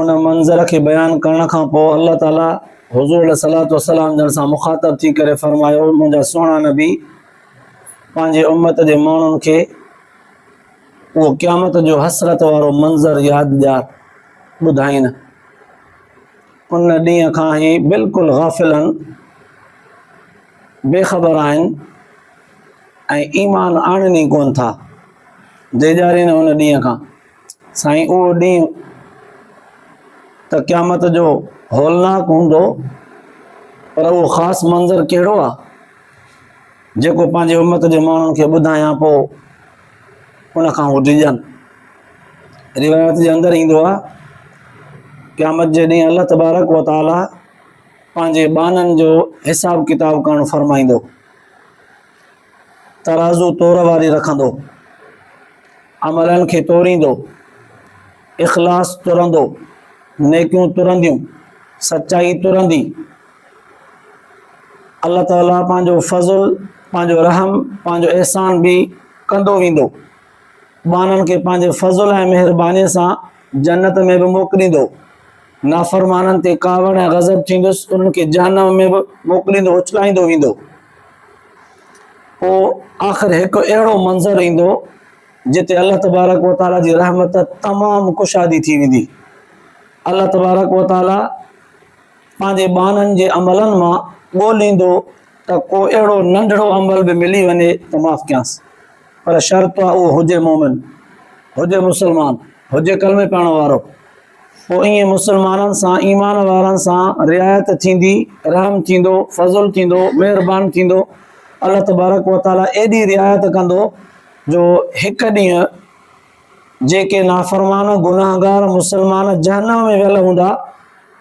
ان منظر کي بيان ڪرڻ کان پوء الله تعاليٰ حضور عليه صلات وسلام جن سان مخاطب ٿي ڪري فرمايو منهنجا سهڻا نبي پنهنجي امت جي ماڻهن کي اهو قيامت جو حسرت وارو منظر ياد ڏيار ٻڌائين ان ڏينهن کان هي بلڪل غافل آهن بي خبر آهن ۽ ايمان آڻن ئي ڪون ٿا ڊيڄارين ان ڏينهن کان، سائين اهو ڏينهن ته قيامت جو هولناڪ هوندو پر اهو خاص منظر ڪهڙو آ جيڪو پنهنجي امت جي ماڻهن کي ٻڌايان پو ان کان هو ڊڄن روايت جي اندر ايندو آ قيامت جي ڏينهن الله تبارڪ و تعالي پنهنجي ٻانهن جو حساب ڪتاب ڪرڻ فرمائيندو ترازو تور واري رکندو. عملن کي توريندو. اخلاص ترندو. نيڪيون ترنديون. سچائي ترندي. الله تعالي پنهنجو فضل، پنهنجو رحم، پنهنجو احسان به ڪندو ويندو. ٻانهن کي پنهنجي فضل ۽ مهربانيء سان جنت ۾ به موڪليندو. نافرمانن تي ڪاوڙ ۽ غضب ٿيندس، انهن کي جهنم ۾ به موڪليندو، اڇلائيندو ويندو. پوء آخر هڪ اهڙو منظر ايندو جتي الله تبارڪ و تعاليٰ جي رحمت تمام ڪشادي ٿي ويندي الله تبارڪ و تعاليٰ پنهنجي ٻانهن جي عملن مان ڳوليندو ته ڪو اهڙو ننڍڙو عمل به ملي وڃي ته معاف ڪيانس پر شرط اها هجي مومن هجي مسلمان هجي ڪلمي پاڻ وارو پوء ائين مسلمانن سان، ايمان وارن سان، رعايت ٿيندي، رحم ٿيندو، فضل ٿيندو، مهربان ٿيندو، الله تبارڪ و تعاليٰ ايڏي رعايت ڪندو جو هڪ ڏينهن جيڪي نافرمان گناهگار مسلمان جهنم ۾ ويل هوندا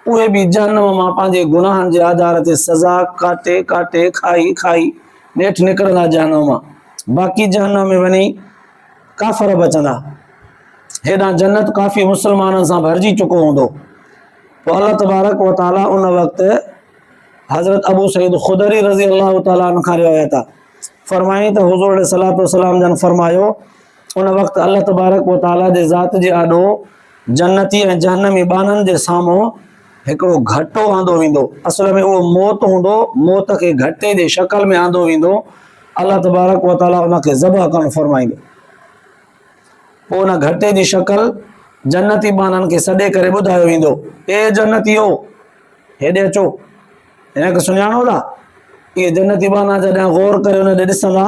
اهي به جهنم مان پنهنجي گناهن جي آڌار تي سزا ڪاٽي ڪاٽي کائي کائي نيٺ نڪرندا جهنم مان باقي جهنم ۾ وڃي ڪافر بچندا هيڏانهن جنت ڪافي مسلمانن سان ڀرجي چڪو هوندو. پوء الله تبارڪ و تعاليٰ ان وقت حضرت ابو سعيد خدري رضي الله تعاليٰ عنه کان روايت آ فرمائي ته حضور عليه صلات وسلام جن فرمايو ان وقت الله تبارڪ و تعاليٰ جي ذات جي آڏو جنتي ۽ جهنمي ٻانهن جي سامهون هڪڙو گهٽو آندو ويندو اصل ۾ اهو موت هوندو موت کي گهٽي جي شڪل ۾ آندو ويندو الله تبارڪ و تعاليٰ ان کي ذبح ڪرڻ فرمائيندو پوء ان گهٽي جي شڪل جنتي ٻانهن کي سڏي ڪري ٻڌايو ويندو، اي جنتيو! هيڏي اچو، هن کي سڃاڻو ٿا؟ اهي جنتي ٻانها جڏهن غور ڪري ان ڏي ڏسندا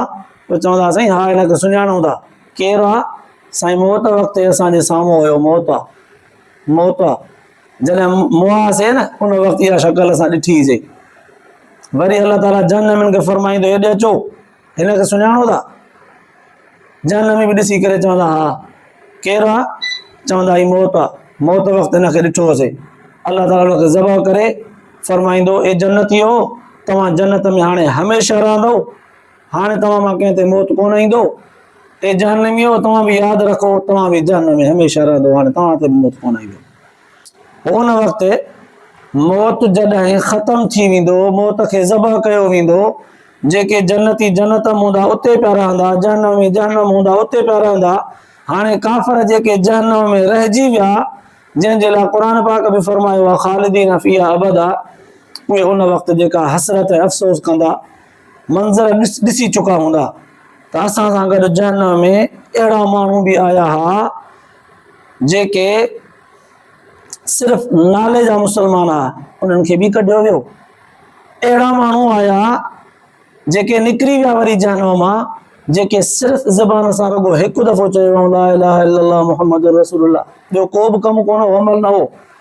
پوء چوندا سائين ها هن کي سڃاڻو ٿا، ڪير آ؟ سائين موت وقت اسان جي سامهون هيو موت آ، موت آ، جڏهن مئاسي نه ان وقت اها شڪل اسان ڏٺيسي. وري الله تعاليٰ جهنمين کي فرمائيندو هيڏي اچو، هن کي سڃاڻو ٿا؟ جهنم ۾ به ڏسي ڪري چوندا ها ڪير آ چوندا هي موت آ موت وقت هن کي ڏٺو هوسي الله تعاليٰ هن کي ذبح ڪري فرمائيندو اي جنتي هو توهان جنت ۾ هاڻي هميشه رهندو هاڻي توهان مان ڪنهن تي موت ڪونه ايندو اي جهنمي هو توهان به ياد رکو توهان به جهنم ۾ هميشه رهندو هاڻي توهان تي موت ڪونه ايندو ان وقت موت جڏهن ختم ٿي ويندو، موت کي ذبح ڪيو ويندو، جيڪي جنتي جنت ۾ هوندا اتي پيا رهندا، جهنمي جهنم هوندا اتي پيا رهندا. هاڻي ڪافر جيڪي جهنم ۾ رهجي ويا، جنهن جي لاء قرآن پاڪ به فرمايو آهي خالدين فيها ابدا، اهي ان وقت جيڪا حسرت ۽ افسوس ڪندا، منظر ڏسي چڪا هوندا ته اسان سان گڏ جهنم ۾ اهڙا ماڻهو به آيا ها، جيڪي صرف نالي جا مسلمان هئا انهن کي به ڪڍيو ويو اهڙا ماڻهو آيا جيڪي نڪري ويا وري جهنم مان جيڪي صرف زبان سان رڳو هڪ دفعو چيو لا اله الا الله محمد رسول الله ٻيو ڪو به ڪم ڪونه عمل نه هو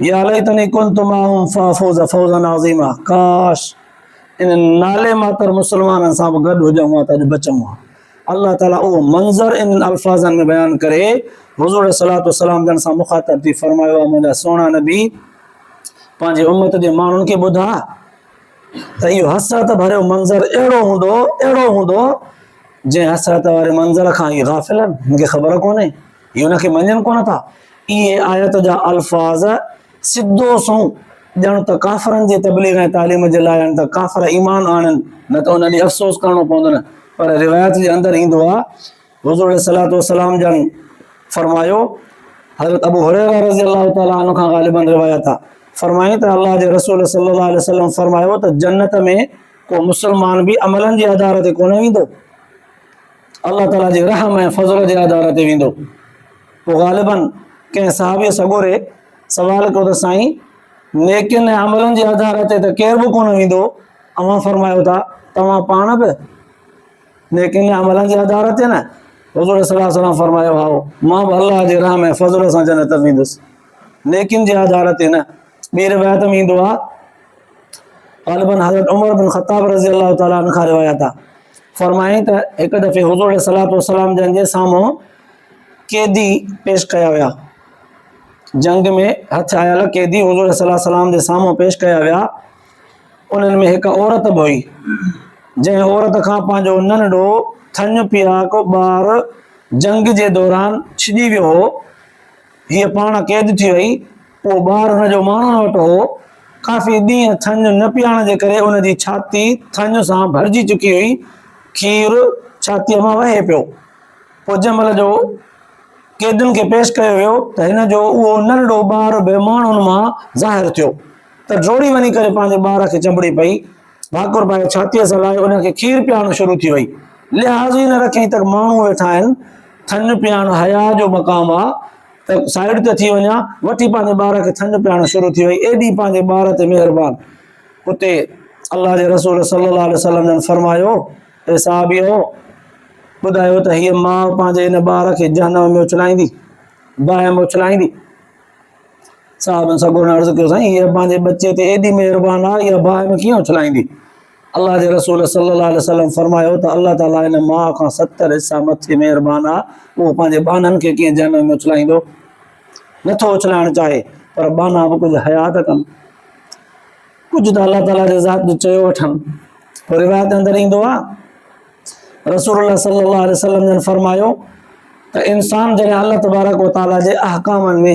يا ليتني كنت معهم فافوز فوزا عظيما ڪاش انهن نالي ماتر مسلمانن سان به گڏ هجون ها ته اڄ بچون ها الله تعاليٰ اهو منظر انهن الفاظن ۾ بيان ڪري حضور عليه صلاحت وسلام جن سان مخاطب ٿي فرمايو آ منهنجا سهڻا نبي پنهنجي امت جي ماڻهن کي ٻڌا ته اهو حسرت ڀريو منظر اهڙو هوندو اهڙو هوندو جنهن حسرت واري منظر کان هي غافل آهن هن کي خبر ڪونهي هي ان کي مڃن ڪونه ٿا. اهي آيت جا الفاظ سڌو سنئون ڄڻ ته ڪافرن جي تبليغ ۽ تعليم جي لاء آهن ته ڪافر ايمان آڻين نه ته انهن ڏي افسوس ڪرڻو پوندن پر روايت جي اندر ايندو آهي حضور عليه الصلوة والسلام جن فرمايو حضرت ابو هريره رضي الله تعالٰي عنه کان غالبا روايت آهي فرمائين ته الله جي رسول صلي الله عليه وسلم فرمايو ته جنت ۾ ڪو مسلمان به عملن جي آڌار تي ڪونه ويندو الله تعاليٰ جي رحم ۽ فضل جي آڌار تي ويندو. پوء غالباً ڪنهن صحابيء سڳوري سوال ڪيو ته سائين! نيڪين ۽ عملن جي آڌار تي ته ڪير به ڪونه ويندو، اوهان فرمايو ٿا توهان پاڻ به نيڪين ۽ عملن جي آڌار تي نه؟ حضور صلي الله عليه وسلم فرمايو هائو، مان به الله جي رحم ۽ فضل سان جنت ۾ ويندس، نيڪين جي آڌار تي نه. ٻي روايت ۾ ايندو آهي غالباً حضرت عمر بن خطاب رضي الله تعالٰي عنہ کان روايت آ فرمائي ته هڪ دفعي حضور عليه الصلوۃ والسلام جن جي سامهون قيدي پيش ڪيا ويا جنگ ۾ هٿ آيل قيدي حضور صلي الله السلام جي سامهون پيش ڪيا ويا انهن ۾ هڪ عورت به هئي جنهن عورت کان پنهنجو ننڍو ٿڃ پياڪو ٻار جنگ جي دوران ڇڄي ويو هو هيء پاڻ قيد ٿي وئي اهو ٻار ان جو ماڻڻ وٽ هو. ڪافي ڏينهن ٿڃ نه پيئڻ جي ڪري ان جي ڇاتي ٿڃ سان ڀرجي چڪي هئي. کير ڇاتيء مان وهي پيو. پوء جنهن مهل جو قيدين کي پيش ڪيو ويو ته هن جو اهو ننڍڙو ٻار به ماڻهن مان ظاهر ٿيو ته ڊوڙي وڃي ڪري پنهنجي ٻار کي چنبڙي پئي. ڀاڪر پائي ڇاتيء سان لائي ان کي کير پيئارڻ شروع ٿي وئي. لحاظ ئي نه رکيائين ته ماڻهو ويٺا آهن. ٿڃ پيئڻ حياء جو مقام آ. ته سائيڊ تي ٿي وڃان، وٺي پنهنجي ٻار کي ٿڃ پيارڻ شروع ٿي وئي، ايڏي پنهنجي ٻار تي مهربان. اتي الله جي رسول صلي الله عليه وسلم جن فرمايو، اي صحابيؤ! ٻڌايو ته هيء ماء پنهنجي هن ٻار کي جهنم ۾ اڇلائيندي؟ باهه ۾ اڇلائيندي؟ صحابن سڳورن عرض ڪيو، سائين! هيء پنهنجي ٻچي تي ايڏي مهربان آهي، اها باهه ۾ ڪيئن اڇلائيندي؟ الله جي رسول صلي الله عليه وسلم فرمايو ته الله تعالي ان ماء کان ستر حصا مٿي مهربان آهي، اهو پنهنجي ٻانهن کي ڪيئن جهنم ۾ اڇلائيندو؟ نه ٿو اڇلائڻ چاهي، پر ٻانها به ڪجهه حياء ته ڪن. ڪجهه ته الله تعالي جي ذات جو چيو وٺن. پوء روايت اندر ايندو آهي رسول الله صلي الله عليه وسلم جن فرمايو ته انسان جڏهن الله تبارڪ وتعالي جي احڪامن ۾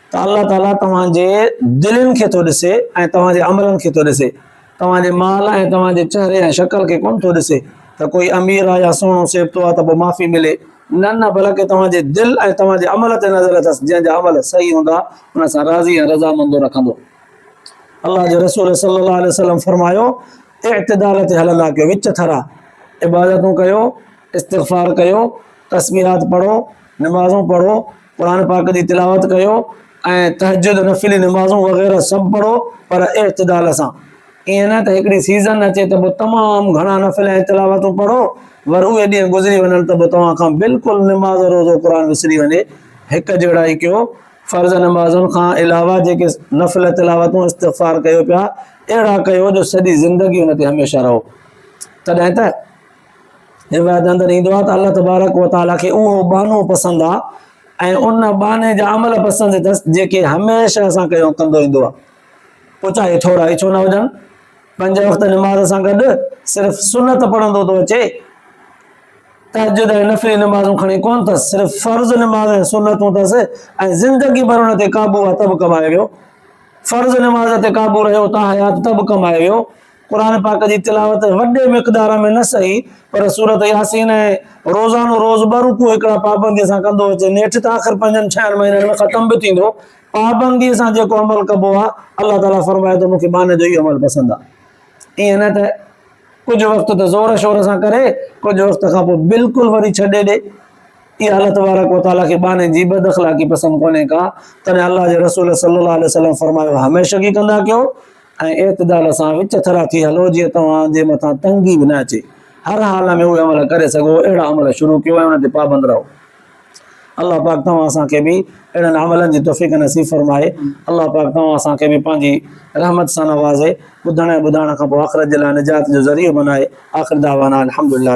ته الله تعاليٰ توهان جي دلين کي ٿو ڏسي ۽ توهان جي عملن کي ٿو ڏسي، توهان جي مال ۽ توهان جي چهري ۽ شڪل کي ڪونه ٿو ڏسي ته ڪوئي امير آهي يا سهڻو سيبتو آهي ته پوء معافي ملي، نه نه بلڪ توهان جي دل ۽ توهان جي عمل تي نظر اٿس، جنهن جا عمل صحيح هوندا ان سان راضي ۽ رضامندو رکندو. الله جي رسول صلي الله عليه وسلم فرمايو، اعتدال تي هلندا ڪيو، وچ ٿرا عبادتون ڪيو، استغفار ڪيو، تسبيحات پڙهو، نمازون پڙهو، قرآن پاڪ جي تلاوت ڪيو ۽ تهجد نفلي نمازون وغيره سڀ پڙهو پر اعتدال سان ائين نه ته هڪڙي سيزن اچي ته به تمام گهڻا نفل ۽ تلاوتون پڙهو ور اهي ڏينهن گذري وڃن ته به توهان کان بلڪل نماز روزو قرآن وسري وڃي هڪ جهڙا ئي ڪيو فرض نمازن کان علاوه جيڪي نفل تلاوتون استغفار ڪيو پيا اهڙا ڪيو جو سڄي زندگي ان تي هميشه رهو تڏهن ته روايت اندر ايندو آهي ته الله تبارڪ و تعاليٰ کي اهو ٻانهو پسند آهي ۽ ان ٻانهي جا عمل پسند اٿس جيڪي هميشه اسان کي ڪندو ايندو آهي پوء چاهي ٿورا اچو نه هجن پنج وقت نماز سان گڏ صرف سنت پڙهندو ٿو اچي تحجد ۽ نفلي نمازون کڻي ڪون اٿس صرف فرض نماز ۽ سنتون اٿس ۽ زندگي ڀر ان تي قابو آهي ته به ڪمائي ويو فرض نماز تي قابو رهيو تان حيات ته به ڪمائي ويو قرآن پاڪ جي تلاوت وڏي مقدار ۾ نه سهي پر سورت ياسين ۽ روزانو روز ٻه رڪوع هڪڙا پابندي سان ڪندو اچي نيٺ ته آخر پنجن ڇهن مهينن ۾ ختم به ٿيندو پابندي سان جيڪو عمل ڪبو آ الله تعالي فرمائي ته مونکي ٻانهن جو هي عمل پسند آ ائين نه ته ڪجهه وقت ته زور شور سان ڪري ڪجهه وقت کان پوء بلڪل وري ڇڏي ڏي اها الله تبارڪ وتعالي کي ٻانهن جي بد اخلاقي پسند ڪونهي ڪا تڏهن الله جي رسول صلي الله عليه وسلم فرمايو هميشگي ڪندا ڪيو ۽ اعتدال سان وچ ٿرا ٿي هلو جيئن توهان جي مٿان تنگي به نه اچي. هر حال ۾ اهي عمل ڪري سگهو اهڙا عمل شروع ڪيو ۽ انهن تي پابند رهو. الله پاڪ توهان اسان کي به اهڙن عملن جي توفيق نصيب فرمائي. الله پاڪ توهان اسان کي به پنهنجي رحمت سان نوازي، ٻڌڻ ۽ ٻڌائڻ کان پوء آخرت جي لاء نجات جو ذريعو بنائي. آخر دعوانا الحمدلله.